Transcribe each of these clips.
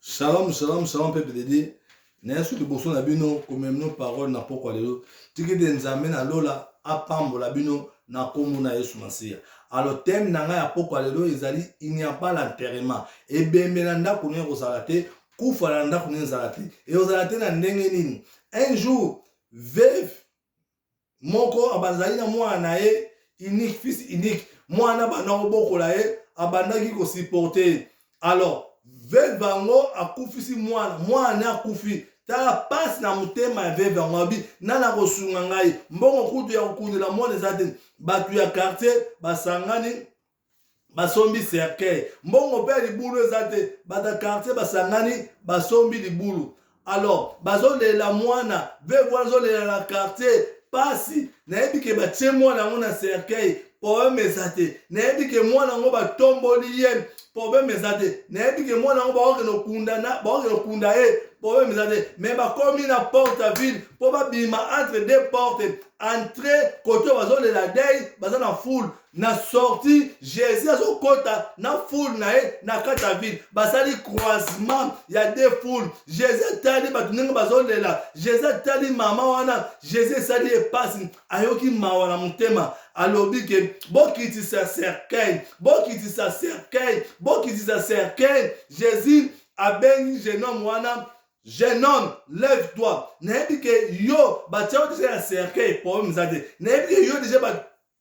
Shalom, shalom, shalom, peuple de Dieu. naye soki liboso na bino komemino parole na pokwa lelo tiki te nzambe na lola apambola bino na nkombo na yesu masiya alo teme na ngai ya pokwa lelo ezali inyapa la nterema ebembe na ndako nini ekozala te kufa na ndako nini ezala te ekozala te na ndenge nini un jour veve moko abazali na mwana na ye unique fils unique mwana abanda kobokola ye abandaki kosupporte ye alors veve yango akufisi mwana mwana ne akufi tala pasi na motema ya veve yango abi nani akosunga ngai mbongo kutu ya kokundela mwana eza te bato ya quartier basangani basombi cercueil mbongo mpe ya libulu eza te bato ya quartier basangani basombi libulu alors bazolela mwana veve wana azolela na quartier pasi nayebi ke batie mwana yango na cercueil problème eza te nayebi ke mwana yango batomboli ye problème eza te nayebi ke mwana yango bakokende okunda ye problème eza te mais bakomi na porte ya ville mpo babima entre deux porte entre kote bazolela dei baza na foule na sorti jésus azokɔta na foule na ye na kati ya ville basali croisement ya de foule jésus atali bato ndenge bazolela jésus atali mama wana jésus esali ye mpasi ayoki mawa na motema alobi ke bokitisa cercueil bokitisa cercueil bokitisa cercueil jésus abengi jeune homme wana jeune homme lève toi nayebi ke yo batya yo deja ya cercueil problème eza te nayebi ke yo deja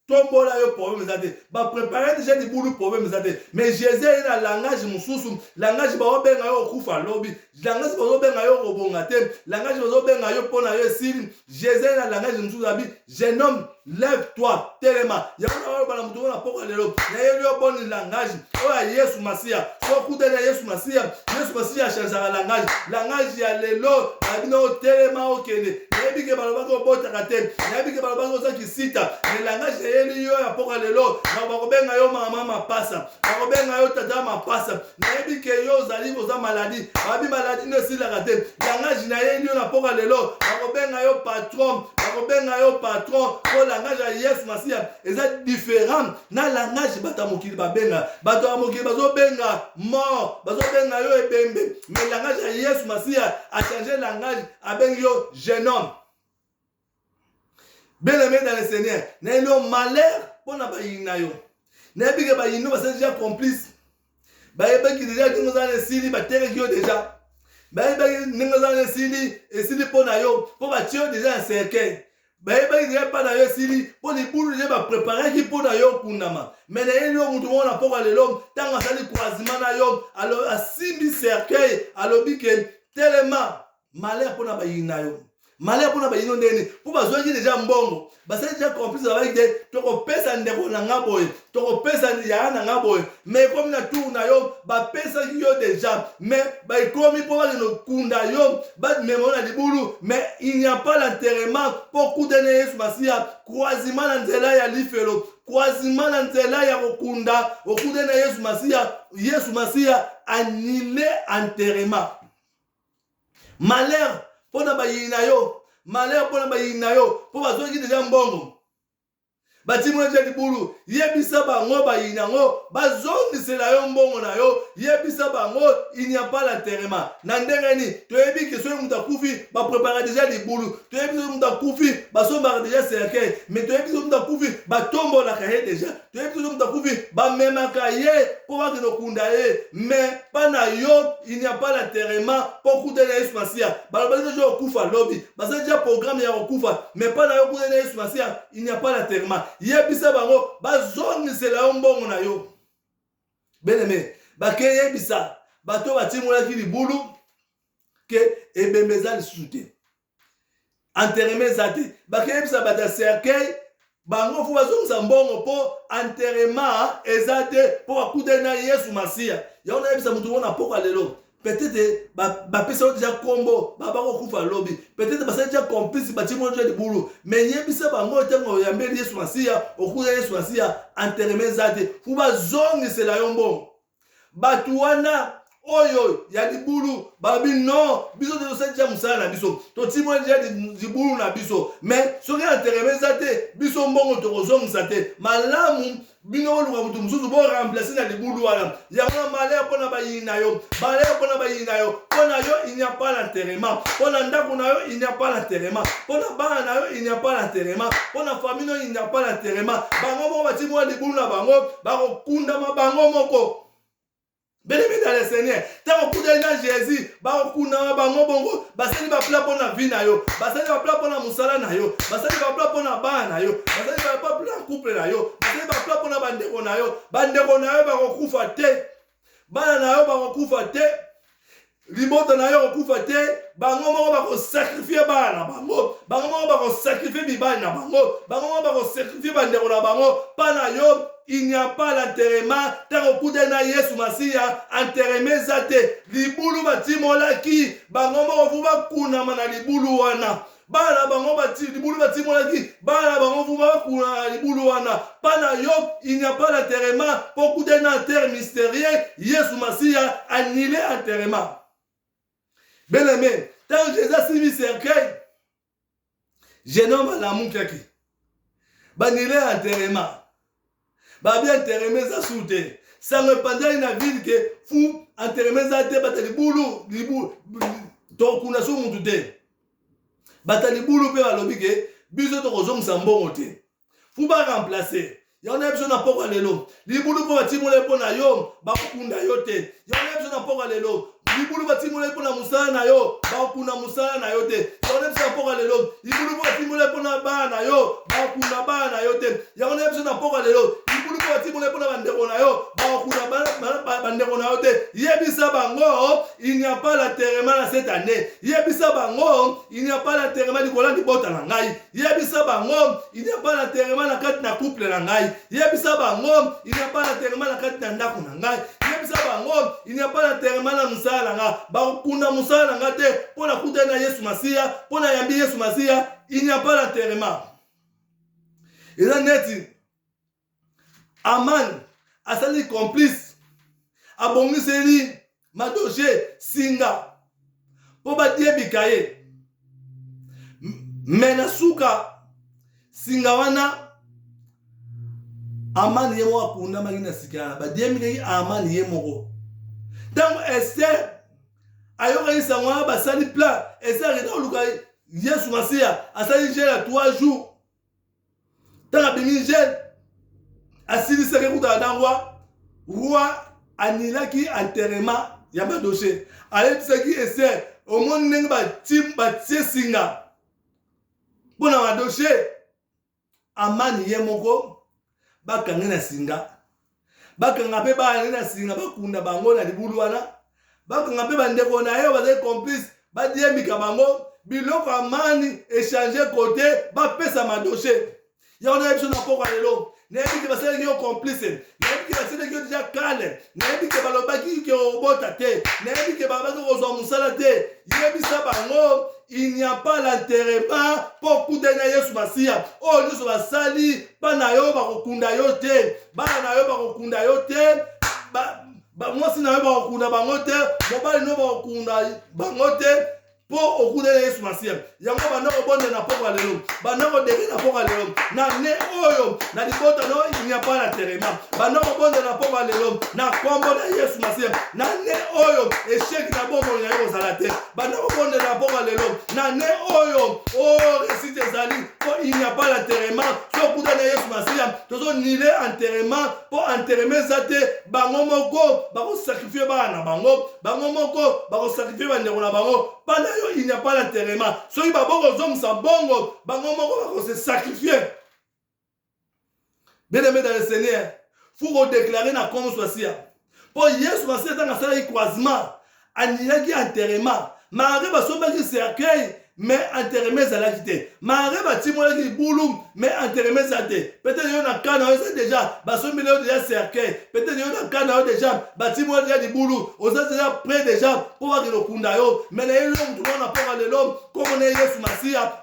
tombola yo problème eza te baprépare deja libulu problème eza te mais jésus aye na langage mosusu langage baobenga yo okufa lobi langage bazobenga yo okobonga te langage bazobenga yo mpo na yo esili jésus aye na langage mosusu abi jeune homme lève toi telema yango na oyobana moto ngo na mpoka lelo nayeli yo boni langage oyo ya yesu masiya sokutani ya yesu masiya yesu masiya achangeaka langage langage ya lelo na bino otelema okende nayebi ke balobaki obotaka te nayebi ke balobaki ozaki sita mais langage eyeli yo ya mpoka lelo na bakobenga yo mama mapasa bakobenga yo tata mapasa nayebi ke yo ozali oza maladi babi maladi nde esilaka te langage nayeli yo na mpoka lelo bakobenga yo patron bakobenga yo patron mpo langage ya yesu masiya eza différent na langage bato ya mokili babenga bato ya mokili bazobenga mort bazobenga yo ebembe mais langage ya yesu masiya achange langage abengi yo genome bien aimé dans le seigneur nayebi yo malheur mpo na bayini na yo nayebi ke bayini no basali deja complice bayebaki deja ndenge ozala na esili batekaki yo deja bayebaki ndenge ozala na esili esili mpo na yo mpo batie yo deja na cercueil bayebaki deja epai na yo esili mpo libulu deja bapreparaki mpo na yo okundama me nayebi yo motu moko na mpoka lelo ntango asali croisement na yo asimbi cercueil alobi ke telema malheur mpo na bayini na yo malheur mpo na bayini yo ndenge nini mpo bazwaki deja mbongo basali deja complice babaki te tokopesa ndeko na nga boye tokopesa yaya na nga boye me ekomi na tour na yo bapesaki yo deja me baekomi mpo bakende okunda yo bamema yo na libulu me il n'y a pas l'enterrement mpo okutani ya yesu masiya croisima na nzela ya lifelo croisima na nzela ya kokunda okutani na yesu masiya yesu masiya anile enterrement malheur mpo na bayini na yo malheur mpo na bayini na yo mpo bazwaki deja mbongo batimoli deja libulu yebisa bango bayini yango bazongisela yo mbongo na yo yebisa bango inyapa la terema na ndenge nini toyebi ke soki moto akufi baprepara deja libulu toyebi soki moto akufi basombaka deja cercueil me toyebi soki moto akufi batombolaka ye deja toyebi tozo moto akufi bamemaka ye mpo bakende okunda ye mais mpa na yo il n'y a pas l'enterrement mpo okutani na yesu masiya balobaki deja okufa lobi baza deja programme ya kokufa mais mpa na yo okutani na yesu masiya il n'y a pas l'enterrement yebisa bango bazongisela yo mbongo na yo beneme bakeyebisa bato batimolaki libulu ke ebembe eza lisusu te enterrement eza te bakeyebisa bato ya cercueil bango fo bazongisa mbongo mpo enterrement eza te mpo bakutani na yesu masiya yango nayebisa moto mona mpoka lelo peut-être bapesa yo deja nkombo baba kokufa lobi peut-être basali deja complice batimo deja libulu mais yebisa bango ntango oyambeli yesu masiya okuya yesu masiya enterrement eza te fo bazongisela yo mbongo bato wana oyo ya libulu balobi non biso te tosali tya mosala na biso totimoli tya libulu na biso me soki entereme eza te biso mbongo tokozongisa te malamu bino boluka moto mosusu boremplace na libulu wana yango na malere mpo na bayini na yo malere mpo na bayini na yo mpo na yo il n'y a pas l'enterrement mpo na ndako na yo il n'y a pas l'enterrement mpo na bana na yo il n'y a pas l'enterrement mpo na famille na yo il n'y a pas l'enterrement bango moko batimwa libulu na bango bakokundama bango moko belebele ya le seigneur ntango okutani na jésus bakokundama bango bongo basali bapla mpo na vi na yo basali bapla mpo na mosala na yo basali bapla mpo na bana na yo basali bapla mpo na couple na yo basali bapla mpo na bandeko na yo bandeko na yo bakokufa te bana na yo bakokufa te libota na yo kokufa te bango moko bakosakrifie bana na bango bango moko bakosakrifie mibali na bango bango moko bakosakrifie bandeko na bango mpa na yo il n'y a pas l'enterrement ntango okutani na yesu masiya enterrement eza te libulu batimolaki bango moko vu bakunama na libulu wana bana na bango libulu batimonaki bana na bango vuma bakuna na libulu wana mpa na yo il n'y a pas d'enterrement mpo kuta na enterre mystérieux yesu masiya annule enterrement bien aimé ntango jésus asimbi cercueil jeune homme alamukiaki banile enterrement ba bien enterrement eza sur te sango epanzaki na ville ke fu enterrement eza te bata libulu libulu tokuna so mutu te bata libulu mpe balobi ke biso tokozongisa mbongo te fu ba remplacer yango na biso na pokwa lelo libulu mpo batimola mpo na yo bakokunda yo te yango na biso na mpoka lelo libulu batimolaki mpo na mosala na yo bakuna mosala na yo te yango na biso na mpoka lelo libulu mpo batimolaki mpo na bana na yo bakuna bana na yo te yango na biso na mpoka lelo libulu mpo batimolaki mpo na bandeko na yo bakuna bandeko na yo te yebisa bango il n'y a pas la terema na cette année yebisa bango il n'y a pas la terema likola libota na ngai yebisa bango il n'y a pas d'enterrement na kati na couple na ngai yebisa bango il n'y a pas d'enterrement na kati na ndako na ngai yebisa bango il n'y a pas d'enterrement na mosala na ngai bakokunda mosala na ngai te mpo nakutani na yesu masiya mpo nayambi yesu masiya il n'y a pas d'enterrement eza neti aman asali complice abongiseli madoje singa mpo badiebika ye me na suka singa wana amani ye moko akundamaki na sika wana badiembikaki amani ye moko ntango ester ayokaki sango wana basali plan ester akenda koluka yesu masiya asali jela 3 jours ntango abimi jeune asilisaki kuta na dangwa roi anilaki enterrement ya madoshe ayebisaki ester omoni ndenge batie singa mpo na madoshe amani ye moko bakange na singa bakanga mpe baale na singa bakunda bango na libulu wana bakanga mpe bandeko na ye bazali complice badiembika bango biloko ya mani echange kote bapesa madoshe yango nayebi biso na mpokwa lelo nayebi te basalaki yo complice nayebi te basalaki yo deja kale nayebi te balobaki ke obota te nayebi te babaki kozwa mosala te yebisa bango il n'y a pas l'enterrement mpo okutani na yesu masiya oyo nyonso basali bana yo bakokunda yo te bana na yo bakokunda yo te mwasi na yo bakokunda bango te mobali no bakokunda bango te mpo okutani na yesu masiya yango banda kobonda na pokwa lelo banda kodeke na pokwa lelo na ne oyo na libota no il n'y a pas l'enterrement banda kobonda na pokwa lelo na nkombo na yesu masiya na ne oyo esheki na bomoi na yo kozala te banda kobondela mpoma lelo na ne oyo o oh, resite ezali mpo il n'y a pas l'enterrement so okuta na yesu masiya tozonile enterrement mpo enterrement eza te bango moko bakosakrifie bana na bango bango moko bakosakrifie bandeko na bango bana yo il n'y a pas l'enterrement soki babokozongisa bongo bango moko bakose sakrifie bien aimé dans le seigneur faut kodeklare na nkombo swasiya mpo yesu masiya ntango asalaki croisement aniyaki enterrement marie basombaki cercueil me enterrement ezalaki te marie batimolaki libulu me enterrement eza te peut-être yo na kana oza déjà basombeli yo déjà cercueil peut-être yo na kana yo déjà batimoli déjà libulu oza déjà près déjà mpo bakende okunda yo me na ye lelo motu mwana mponga lelo nkombo na ye yesu masiya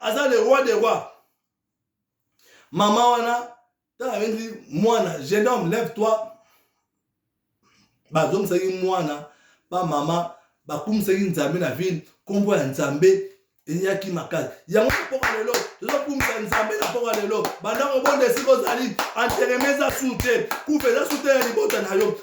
aza le roi de roi mama wana ntango abengi mwana jeune homme lève toi bazongisaki mwana bamama bakumisaki nzambe na vile nkombo ya nzambe eyaki makasi yango na mpoka lelo tozokumisa nzambe na mpoka lelo bandako bonde esika ozali antereme eza su te kufa eza su te ya libota na yo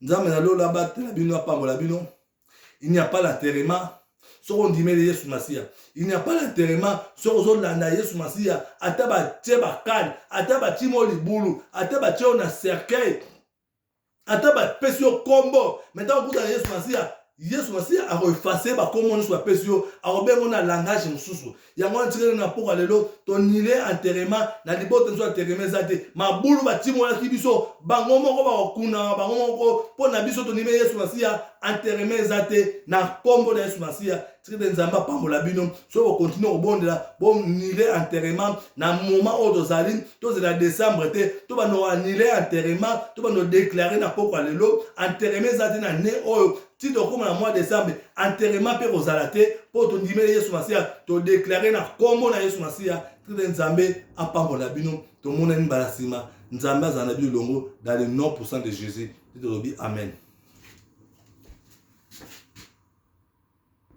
nzambe na lola abatela bino apambola bino il n'y a pas l'enterrement soki ondimeli yesu masiya il n'y a pas l'enterrement soki ozolanda yesu masiya ata batye bakale ata batyi mo libulu ata batye yo na cercueil ata bapesi yo nkombo me ntango okutana yesu masiya yesu masiya akoefase bakombo nyonso bapesi yo akobengo na langage mosusu yango wana tikali na mpoka lelo tonile enterrement na libota biso enterrement eza te mabulu batimolaki biso bango moko bakokunama bango moko mpo na biso tonime yesu masiya enterrement eza te na nkombo na yesu masiya tikete nzambe apambola bino soki bokontinue kobondela bonile enterrement na moma oyo tozali tozela décembre te to bando anile enterrement to bando déclare na mpokwa lelo enterrement eza te na ne oyo ti tokóma na mois décembre enterrement mpe kozala te mpo tondimeli yesu masiya todeklare na nkombo na yesu masiya tete nzambe apambola bino tomonani mbala nsima nzambe azala na bino elongo dans le nom puissant de jésus tete tolobi amen